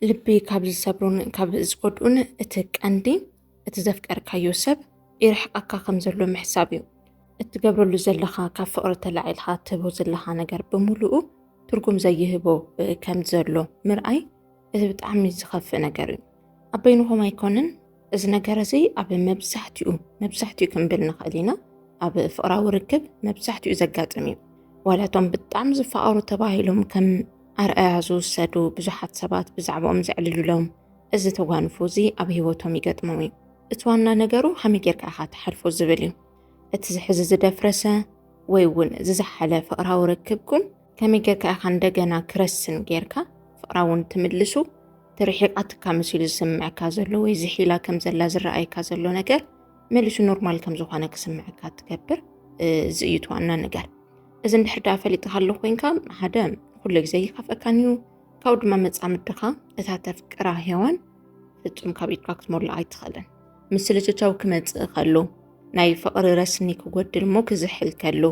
ልቢ ካብ ዝሰብሩን ካብ ዝጎድኡን እቲ ቀንዲ እቲ ዘፍቀርካዮ ሰብ ይርሕቀካ ከም ዘሎ ምሕሳብ እዩ። እትገብረሉ ዘለኻ ካብ ፍቕሪ ተላዒልኻ እትህቦ ዘለኻ ነገር ብምሉኡ ትርጉም ዘይህቦ ከም ዘሎ ምርኣይ እቲ ብጣዕሚ ዝኸፍእ ነገር እዩ። ኣብ በይንኹም ኣይኮነን እዚ ነገር እዚ ኣብ መብዛሕትኡ መብዛሕትኡ ክንብል ንኽእል ኢና ኣብ ፍቕራዊ ርክብ መብዛሕትኡ ዘጋጥም እዩ ዋላ እቶም ብጣዕሚ ዝፈቐሩ ተባሂሎም ከም ኣርኣያ ዝውሰዱ ብዙሓት ሰባት ብዛዕባኦም ዘዕልሉሎም እዚ ተጓንፎ እዚ ኣብ ህይወቶም ይገጥሞም እዩ እቲ ዋና ነገሩ ከመይ ጌርካ ኢኻ ትሓልፎ ዝብል እዩ እቲ ዝሕዚ ዝደፍረሰ ወይ እውን ዝዝሓለ ፍቕራዊ ርክብኩም ከመይ ጌርካ ኢኻ እንደገና ክረስን ጌርካ ፍቕራ እውን ትምልሱ? እቲ ርሒቓትካ መሲሉ ዝስምዐካ ዘሎ ወይ ዝሒላ ከም ዘላ ዝረኣየካ ዘሎ ነገር መሊሱ ኖርማል ከም ዝኾነ ክስምዐካ ትገብር እዚ እዩ ትዋና ነገር እዚ እንድሕር ደኣ ፈሊጥካ ኣሎ ኮንካ ሓደ ኩሉ ግዜ ይካፍአካን እዩ ካብኡ ድማ መፃምድኻ እታ ተፍቅራ ሄዋን ፍፁም ካብ ኢድካ ክትመሎ ኣይትኽእልን ምስልትታው ክመፅእ ከሎ ናይ ፍቕሪ ረስኒ ክጎድል እሞ ክዝሕል ከሎ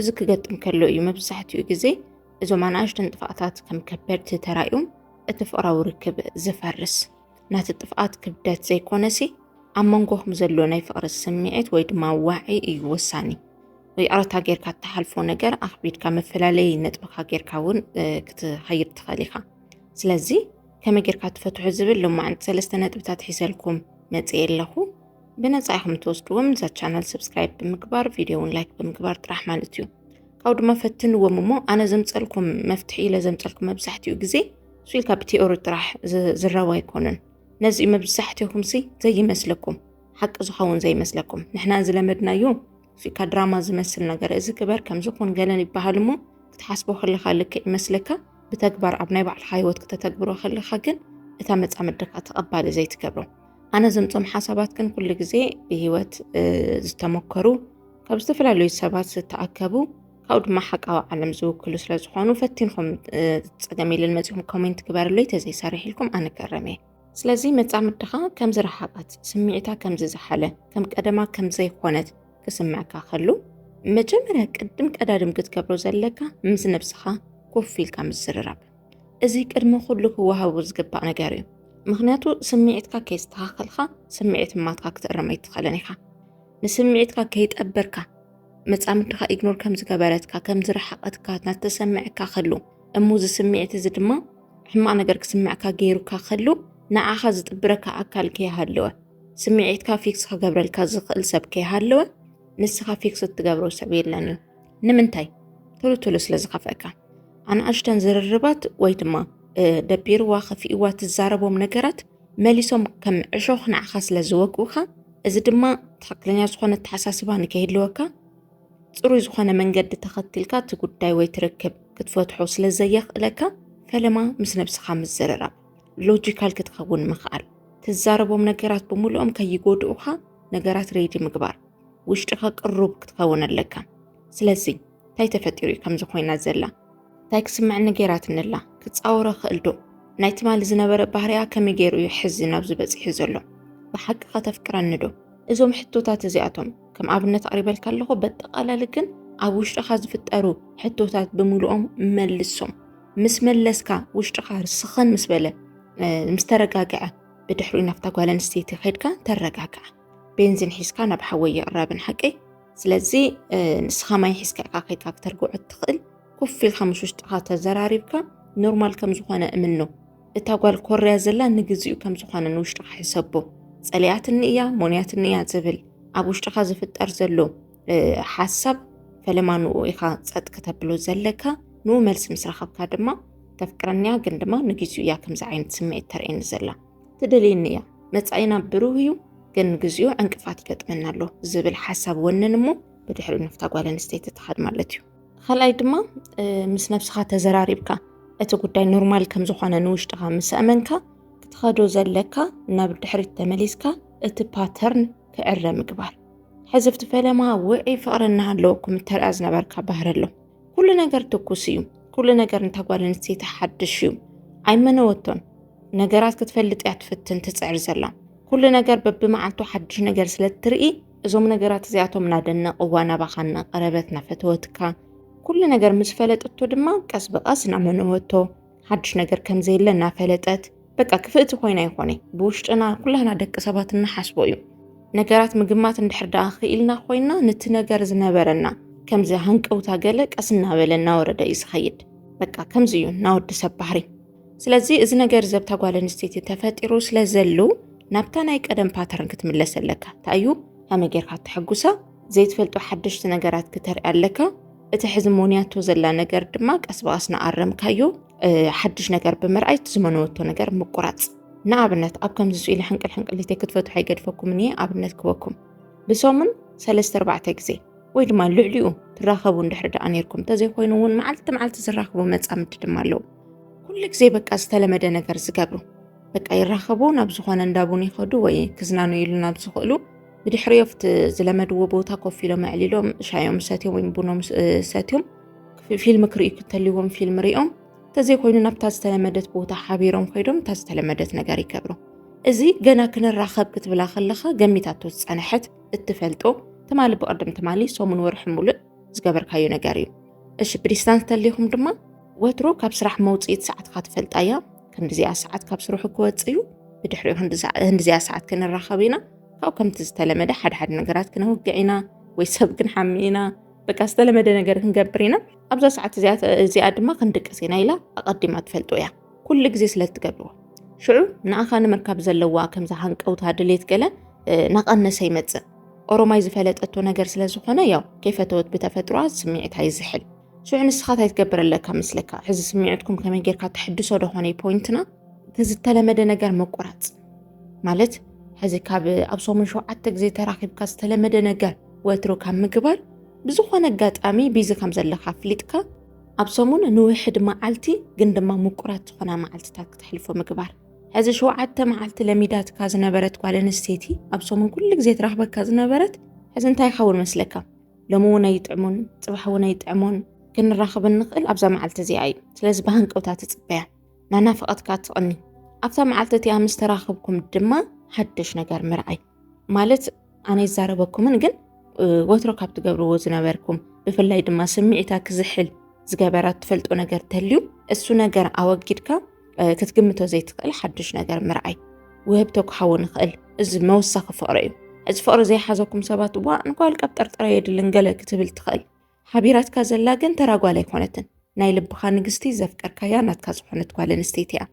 እዚ ክገጥም ከሎ እዩ መብዛሕትኡ ግዜ እዞም ኣናእሽተን ጥፍኣታት ከም ከበድቲ ተራእዮም እቲ ፍቕራዊ ርክብ ዝፈርስ ናቲ ጥፍኣት ክብደት ዘይኮነሲ ኣብ መንጎኹም ዘሎ ናይ ፍቕሪ ስምዒት ወይ ድማ ዋዒ እዩ ወሳኒ ይቕረታ ጌርካ እትሓልፎ ነገር ኣኽቢድካ መፈላለይ ነጥብካ ጌርካ እውን ክትኸይድ ትኽእል ኢኻ ስለዚ ከመይ ጌርካ ትፈትሑ ዝብል ሎማዕንቲ ሰለስተ ነጥብታት ሒዘልኩም መፅእ ኣለኹ ብነፃ ኢኹም ትወስድዎም ንዛ ቻናል ሰብስክራይብ ብምግባር ቪድዮ እውን ላይክ ብምግባር ጥራሕ ማለት እዩ ካብኡ ድማ ፈትንዎም እሞ ኣነ ዘምፀልኩም መፍትሒ ኢለ ዘምፀልኩም መብዛሕትኡ ግዜ ስኢልካ ብቴኦሪ ጥራሕ ዝረብ ኣይኮነን ነዚ መብዛሕትኹም ሲ ዘይመስለኩም ሓቂ ዝኸውን ዘይመስለኩም ንሕና ዝለመድናዮ ስኢልካ ድራማ ዝመስል ነገር እዚ ክበር ከምዝኾን ገለን ይበሃል እሞ ክትሓስቦ ከለካ ልክዕ ይመስለካ ብተግባር ኣብ ናይ ባዕልካ ህይወት ክተተግብሮ ከለካ ግን እታ መፃመድካ ተቐባሊ ዘይትገብሮ ኣነ ዘምፆም ሓሳባት ግን ኩሉ ግዜ ብሂወት ዝተመከሩ ካብ ዝተፈላለዩ ሰባት ዝተኣከቡ ካብኡ ድማ ሓቃዊ ዓለም ዝውክሉ ስለ ዝኾኑ ፈቲንኩም ፀገም ኢልን መፂኹም ኮሜንት ግበርለይ ተዘይሰርሕ ኢልኩም ኣነ ከረመ ስለዚ መፃምድኻ ከም ዝረሓቐት ስምዒታ ከም ዝዝሓለ ከም ቀደማ ከም ዘይኮነት ክስምዕካ ከሉ መጀመርያ ቅድም ቀዳድም ክትገብሮ ዘለካ ምስ ነብስኻ ኮፍ ኢልካ ምዝርራብ እዚ ቅድሚ ኩሉ ክወሃቡ ዝግባእ ነገር እዩ ምክንያቱ ስምዒትካ ከይስተኻኸልካ ስምዒት ማትካ ክትእረም ኣይትኽእልን ኢኻ ንስምዒትካ ከይጠበርካ መፃምድኻ ኢግኖር ከም ዝገበረትካ ከም ዝረሓቐትካ ናተሰምዐካ ከሉ እሞ እዚ ስምዒት እዚ ድማ ሕማቕ ነገር ክስምዕካ ገይሩካ ከሉ ንዓኻ ዝጥብረካ ኣካል ከይሃለወ ስምዒትካ ፊክስ ክገብረልካ ዝኽእል ሰብ ከይሃለወ ንስኻ ፊክስ እትገብሮ ሰብ የለን እዩ ንምንታይ ቶሎ ቶሎ ስለ ዝኸፍአካ ኣንኣሽተን ዝርርባት ወይ ድማ ደቢርዋ ከፊእዋ ትዛረቦም ነገራት መሊሶም ከም ዕሾኽ ንዓኻ ስለ ዝወግኡኻ እዚ ድማ ትኽክለኛ ዝኾነ ኣተሓሳስባ ንከይህልወካ ፅሩይ ዝኾነ መንገዲ ተኸቲልካ እቲ ጉዳይ ወይ ትርክብ ክትፈትሖ ስለ ዘየኽእለካ ፈለማ ምስ ነብስኻ ምዝርራብ ሎጂካል ክትኸውን ምኽኣል ትዛረቦም ነገራት ብምሉኦም ከይጎድኡኻ ነገራት ሬዲ ምግባር ውሽጥኻ ቅሩብ ክትኸውን ኣለካ ስለዚ እንታይ ተፈጢሩ እዩ ከምዚ ኮይና ዘላ እንታይ ክስምዕኒ ገይራትኒ ኣላ ክፃወሮ ክእል ዶ ናይ ትማሊ ዝነበረ ባህርያ ከመይ ገይሩ እዩ ሕዚ ናብዚ በፂሑ ዘሎ ብሓቂ ከተፍቅረኒ ዶ እዞም ሕቶታት እዚኣቶም ከም ኣብነት ኣቕሪበልካ ኣለኹ በጠቓላሊ ግን ኣብ ውሽጥኻ ዝፍጠሩ ሕቶታት ብምልኦም መልሶም ምስ መለስካ ውሽጥኻ ርስኽን ምስ በለ ምስ ተረጋግዐ ብድሕሪኡ ናብታ ጓል ኣንስተይቲ ከድካ ተረጋግዐ ቤንዚን ሒዝካ ናብ ሓወይ ይቕረብን ሓቀይ ስለዚ ንስኻ ማይ ሒዝካ ኢኻ ከይድካ ክተርግዖ እትኽእል ኮፍ ኢልካ ምስ ውሽጥኻ ተዘራሪብካ ኖርማል ከም ዝኾነ እምኖ እታ ጓል ኮርያ ዘላ ንግዚኡ ከም ዝኾነ ንውሽጥኻ ሕሰቦ ጸሊያትኒ እያ ሞንያትኒ እያ ዝብል ኣብ ውሽጥኻ ዝፍጠር ዘሎ ሓሳብ ፈለማ ንኡ ኢኻ ጸጥ ከተብሎ ዘለካ ንኡ መልሲ ምስ ረኸብካ ድማ ተፍቅረኒያ ግን ድማ ንግዚኡ እያ ከምዚ ዓይነት ስምዒት ተርእየኒ ዘላ ትደልየኒ እያ መጻኢና ብሩህ እዩ ግን ንግዚኡ ዕንቅፋት ይገጥመና ኣሎ ዝብል ሓሳብ ወንን እሞ ብድሕሪ ንፍታ ጓል ኣንስተይቲ ትኸድ ማለት እዩ ካልኣይ ድማ ምስ ነብስኻ ተዘራሪብካ እቲ ጉዳይ ኖርማል ከም ዝኾነ ንውሽጥኻ ምስ ኣመንካ ክትኸዶ ዘለካ ናብ ድሕሪት ተመሊስካ እቲ ፓተርን ክዕረ ምግባር ሕዝብቲ ፈለማ ውዒ ፍቕሪ እናሃለወኩም እተርኣ ዝነበርካ ባህሪ ኣሎ ኩሉ ነገር ትኩስ እዩ ኩሉ ነገር ንታ ጓል ኣንስተይቲ ሓድሽ እዩ ኣይመነወቶን ነገራት ክትፈልጥ እያ ትፍትን ትፅዕር ዘላ ኩሉ ነገር በብመዓልቱ ሓድሽ ነገር ስለ እትርኢ እዞም ነገራት እዚኣቶም እናደነቕዋ ናባኻ እናቐረበት እናፈተወትካ ኩሉ ነገር ምስ ፈለጠቶ ድማ ቀስ ብቐስ እናመነወቶ ሓድሽ ነገር ከም ዘየለ እናፈለጠት በቃ ክፍእቲ ኮይና ይኾነ ብውሽጥና ኩላህና ደቂ ሰባት እንሓስቦ እዩ ነገራት ምግማት እንድሕር ደኣ ክኢልና ኮይና ነቲ ነገር ዝነበረና ከምዚ ሃንቀውታ ገለ ቀስ እናበለ እናወረደ እዩ ዝኸይድ በቃ ከምዚ እዩ ናወዲ ሰብ ባህሪ ስለዚ እዚ ነገር ዘብታ ጓል ኣንስተይቲ ተፈጢሩ ስለ ዘሉ ናብታ ናይ ቀደም ፓተርን ክትምለስ ኣለካ እንታይ እዩ ከመይ ጌርካ ተሐጉሳ ዘይትፈልጦ ሓደሽቲ ነገራት ክተርኢ ኣለካ እቲ ሕዚ ሞንያቶ ዘላ ነገር ድማ ቀስ ብቐስ ንኣረምካዮ ሓድሽ ነገር ብምርኣይ እቲ ዝመነወቶ ነገር ምቁራፅ ንኣብነት ኣብ ከምዚ ስኢሉ ሕንቅል ሕንቅል ሊተ ክትፈትሑ ኣይገድፈኩምን እየ ኣብነት ክበኩም ብሰሙን ሰለስተ ኣርባዕተ ግዜ ወይ ድማ ልዕሊኡ ትራኸቡ እንድሕሪ ደኣ ነርኩም እንተዘይኮይኑ እውን መዓልቲ መዓልቲ ዝራኽቡ መፃምዲ ድማ ኣለዉ ኩሉ ግዜ በቃ ዝተለመደ ነገር ዝገብሩ በቃ ይራኸቡ ናብ ዝኾነ እንዳቡን ይኸዱ ወይ ክዝናኑ ኢሉ ናብ ዝኽእሉ ብድሕሪዮ ኣብቲ ዝለመድዎ ቦታ ኮፍ ኢሎም ኣዕሊሎም ሻዮም ሰትዮም ወይ ቡኖም ሰትዮም ፊልም ክርእዩ ክተልዎም ፊልም ሪኦም እንተዘይኮይኑ ናብታ ዝተለመደት ቦታ ሓቢሮም ኮይዶም እታ ዝተለመደት ነገር ይገብሩ እዚ ገና ክንራኸብ ክትብላ ከለኻ ገሚታቶ ዝፀነሐት እትፈልጦ ትማሊ ብቅድም ትማሊ ሰሙን ወርሒ ሙሉእ ዝገበርካዮ ነገር እዩ እሺ ብዲስታንስ ተሊኹም ድማ ወትሮ ካብ ስራሕ መውፅኢት ሰዓትካ ትፈልጣ እያ ክንዲዚኣ ሰዓት ካብ ስርሑ ክወፅ እዩ ብድሕሪኡ ክንዲዚኣ ሰዓት ክንራኸብ ኢና ካብኡ ከምቲ ዝተለመደ ሓደ ሓደ ነገራት ክነውግዕ ኢና ወይ ሰብ ክንሓሚ ኢና በቃ ዝተለመደ ነገር ክንገብር ኢና ኣብዛ ሰዓት እዚኣ ድማ ክንድቅስ ኢና ኢላ ኣቐዲማ ትፈልጦ እያ ኩሉ ግዜ ስለ እትገብርዎ ሽዑ ንኣኻ ንምርካብ ዘለዋ ከምዚ ሃንቀውታ ድሌት ገለ ናቐነሰ ይመፅእ ኦሮማይ ዝፈለጠቶ ነገር ስለ ዝኾነ ያው ከይፈተወት ብተፈጥሮኣ ስምዒታ ይዝሕል ሽዑ ንስኻ እንታይ ትገብር ኣለካ መስለካ? ሕዚ ስሚዕትኩም ከመይ ጌርካ ተሕድሶ ደኾነይ ፖይንትና እቲ ዝተለመደ ነገር ምቁራፅ ማለት ሕዚ ካብ ኣብ ሰሙን ሸውዓተ ግዜ ተራኺብካ ዝተለመደ ነገር ወትሩ ካብ ምግባር ብዝኾነ ኣጋጣሚ ቢዚ ከም ዘለካ ኣፍሊጥካ ኣብ ሰሙን ንውሕድ መዓልቲ ግን ድማ ምቁራት ዝኾና መዓልትታት ክትሕልፎ ምግባር ሕዚ ሸውዓተ መዓልቲ ለሚዳትካ ዝነበረት ጓል ኣንስተይቲ ኣብ ሰሙን ኩሉ ግዜ ትረኽበካ ዝነበረት ሕዚ እንታይ ይኸውን መስለካ? ሎሚ እውን ኣይጥዕሙን ፅባሕ እውን ኣይጥዕሙን ክንራኸብ እንኽእል ኣብዛ መዓልቲ እዚኣ እዩ ስለዚ ብሃንቀውታ ትፅበያ ናናፍቐትካ ትቕኒ ኣብታ መዓልቲ እቲኣ ምስ ተራኽብኩም ድማ ሓደሽ ነገር ምርኣይ ማለት ኣነ ይዛረበኩምን ግን ወትሮ ካብ ትገብርዎ ዝነበርኩም ብፍላይ ድማ ስምዒታ ክዝሕል ዝገበራ ትፈልጦ ነገር ተልዩ እሱ ነገር ኣወጊድካ ክትግምቶ ዘይትኽእል ሓድሽ ነገር ምርኣይ ውህብቶ ክኸውን ይኽእል እዚ መወሳኺ ፍቕሪ እዩ እዚ ፍቕሪ ዘይሓዘኩም ሰባት እዋ እንኳል ቀብ ጠርጠረ የድልን ገለ ክትብል ትኽእል ሓቢራትካ ዘላ ግን ተራጓል ኣይኮነትን ናይ ልብኻ ንግስቲ ዘፍቀርካያ ናትካ ዝኾነት ጓል ኣንስተይቲ እያ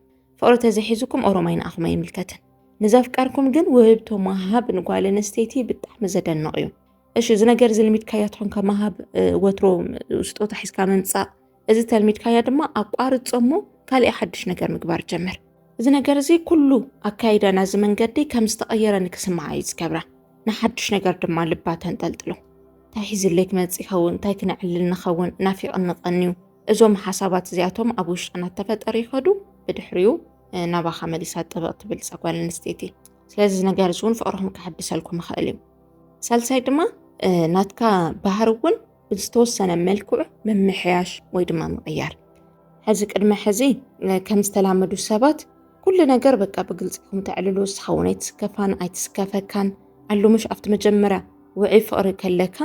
ፍቕሪ ተዘሒዙኩም ኦሮማይ ንኣኹም ኣይምልከትን ንዘፍቀርኩም ግን ውህብቶ መሃብ ንጓል ኣንስተይቲ ብጣዕሚ ዘደንቕ እዩ እሺ እዚ ነገር እዚ ልሚድካያ ትኾንካ መሃብ ወትሮ ስጦታ ሒዝካ ምምፃእ እዚ ተልሚድካያ ድማ ኣቋርጾ እሞ ካልእ ሓድሽ ነገር ምግባር ጀምር። እዚ ነገር እዚ ኩሉ ኣካይዳ ናዚ መንገዲ ከም ዝተቐየረ ንክስምዓ እዩ ዝገብራ ንሓድሽ ነገር ድማ ልባ ተንጠልጥሎ እንታይ ሒዝለይ ክመጽ ይኸውን እንታይ ክነዕልል ንኸውን ናፊቕ እንቐንዩ እዞም ሓሳባት እዚኣቶም ኣብ ውሽጥና ተፈጠሩ ይኸዱ ብድሕሪኡ ናባኻ መሊሳ ጥብቕ ትብል ጸጓል ኣንስተይቲ ስለዚ እዚ ነገር እዚ እውን ፍቕርኹም ክሕድሰልኩም ይኽእል እዩ ሳልሳይ ድማ ናትካ ባህሪ እውን ብዝተወሰነ መልክዑ ምምሕያሽ ወይ ድማ ምቕያር። ሕዚ ቅድመ ሕዚ ከም ዝተላመዱ ሰባት ኩሉ ነገር በቃ ብግልፂ ኹም ተዕልሉ ስኸውን ኣይትስከፋን ኣይትስከፈካን ኣሉ ምሽ ኣብቲ መጀመርያ ውዕይ ፍቕሪ ከለካ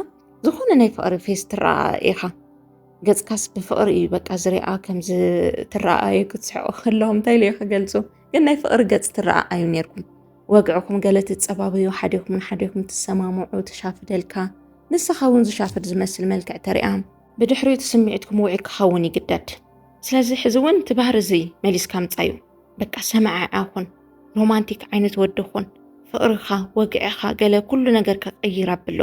ዝኾነ ናይ ፍቕሪ ፌስ ትረኣ ኢኻ ገፅካስ ብፍቕሪ እዩ በቃ ዝሪኣ ከምዚ ትረኣዩ ክትስሕቑ ከለዎም እንታይ ኢሉ ክገልፁ ግን ናይ ፍቕሪ ገፅ ትረኣ ኣዩ ነርኩም ወግዕኩም ገለ ትጸባበዩ፣ ሓዲኹም ንሓዲኹም ትሰማምዑ፣ ትሻፍደልካ፣ ንሳኻ እውን ዝሻፍድ ዝመስል መልክዕ ተሪኣ። ብድሕሪኡ እቲ ስምዒትኩም ውዑይ ክኸውን ይግደድ። ስለዚ ሕዚ እውን እቲ ባህሪ እዚ መሊስካ ምጻዩ። በቃ ሰማዕዓ ኩን፣ ሮማንቲክ ዓይነት ወዲ ኩን፣ ፍቕርኻ፣ ወግዕኻ፣ ገለ ኩሉ ነገር ከቐይር ኣብሎ።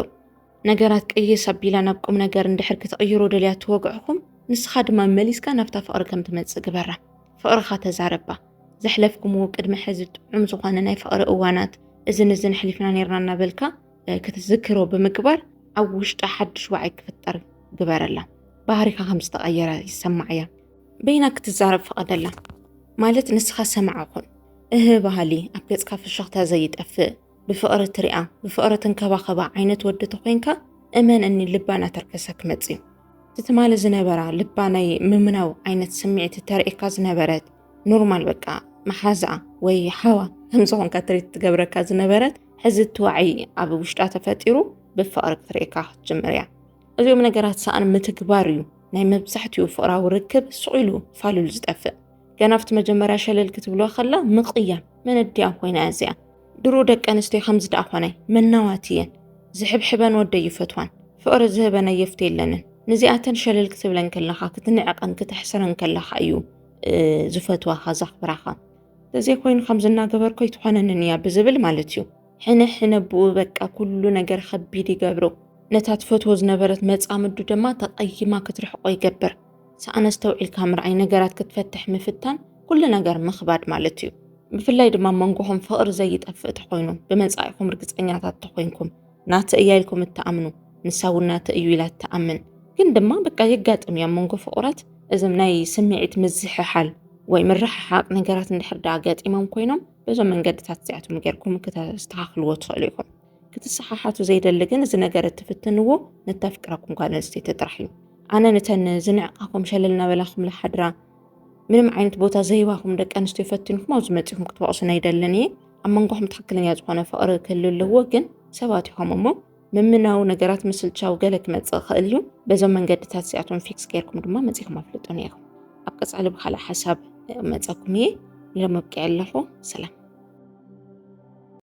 ነገራት ቅይስ ኣቢላ ናብ ቁም ነገር እንድሕር ክትቕይሮ ደልያ ትወግዕኹም ንስኻ ድማ መሊስካ ናብታ ፍቕሪ ከም ትመጽእ ግበራ ፍቕርኻ ተዛረባ ዘሕለፍኩምዎ ቅድሚ ሕዚ ጥዑም ዝኾነ ናይ ፍቕሪ እዋናት እዝን እዝን ሕሊፍና ነርና እናበልካ ክትዝክሮ ብምግባር ኣብ ውሽጣ ሓድሽ ዋዒ ክፍጠር ግበረላ ባህሪካ ከም ዝተቐየረ ይሰማዕ እያ በይና ክትዛረብ ፍቐደላ ማለት ንስኻ ሰማዕ ኹን እህ ባህሊ ኣብ ገጽካ ፍሽኽታ ዘይጠፍእ ብፍቕሪ ትሪኣ ብፍቕሪ ትንከባኸባ ዓይነት ወዲ ተኾይንካ እመን እኒ ልባ እናተርከሰ ክመፅ እዩ እቲ ትማሊ ዝነበራ ልባ ናይ ምምናው ዓይነት ስምዒት ተርእካ ዝነበረት ኖርማል በቃ መሓዝኣ ወይ ሓዋ ከምዝኾንካ ትሪት ትገብረካ ዝነበረት ሕዚ እትዋዕይ ኣብ ውሽጣ ተፈጢሩ ብፍቕሪ ክትርእካ ክትጅምር እያ እዚኦም ነገራት ሰኣን ምትግባር እዩ ናይ መብዛሕትኡ ፍቕራዊ ርክብ ሱቕ ኢሉ ፋሉል ዝጠፍእ ገና ኣብቲ መጀመርያ ሸለል ክትብሎ ከላ ምቕያም መነዲኣ ኮይና እዚኣ ድሮ ደቂ ኣንስትዮ ከምዚ ደኣ ኾነ መናዋት እየን ዝሕብሕበን ወደ ይፈትዋን ፍቕሪ ዝህበን ኣየፍት የለንን ንዚኣተን ሸለል ክትብለን ከለኻ ክትንዕቐን ክተሕስረን ከለኻ እዩ ዝፈትዋኻ ዘኽብራኻ እንተዘይኮይኑ ከምዚ እናገበርኮ ኣይትኾነንን እያ ብዝብል ማለት እዩ ሕነ ሕነ ብኡ በቃ ኩሉ ነገር ከቢድ ይገብሮ ነታ ትፈትዎ ዝነበረት መፃምዱ ድማ ተቐይማ ክትርሕቆ ይገብር ሰኣነስተውዒልካ ምርኣይ ነገራት ክትፈትሕ ምፍታን ኩሉ ነገር ምኽባድ ማለት እዩ። ብፍላይ ድማ መንጎኹም ፍቕሪ ዘይጠፍእ ተኾይኑ ብመጻኢኹም ርግጸኛታት ተኾይንኩም ናተ እያ ኢልኩም እትኣምኑ ንሳ እውን ናተ እዩ ኢላ እትኣምን ግን ድማ በቃ የጋጥም እያ መንጎ ፍቑራት እዞም ናይ ስምዒት ምዝሕሓል ወይ ምርሕሓቅ ነገራት እንድሕር ዳኣ ገጢሞም ኮይኖም በዞም መንገድታት እዚኣቶም ጌርኩም ክተስተኻኽልዎ ትኽእሉ ኢኹም። ክትሰሓሓቱ ዘይደሊ ግን እዚ ነገር እትፍትንዎ ንተፍቅረኩም ጓል ኣንስተይቲ ጥራሕ እዩ። ኣነ ንተን ዝንዕቃኩም ሸለል እናበላኹም ዝሓድራ ምንም ዓይነት ቦታ ዘይባኹም ደቂ ኣንስትዮ ፈትንኩም ኣብዚ መፂኹም ክትወቕሱን ኣይደልን እየ ኣብ መንጎኹም ትክክለኛ ዝኾነ ፍቕሪ ክህሉ ኣለዎ ግን ሰባት ይኹም እሞ ምምናዊ ነገራት ምስልቻው ገለ ክመፅእ ክእል እዩ በዞም መንገድታት እዚኣቶም ፊክስ ገይርኩም ድማ መፂኹም ኣፍልጡ ነይኹም ኣብ ቀፃሊ ብካልእ ሓሳብ መፀኩም እየ ንለመብቅዕ ኣለኹ ሰላም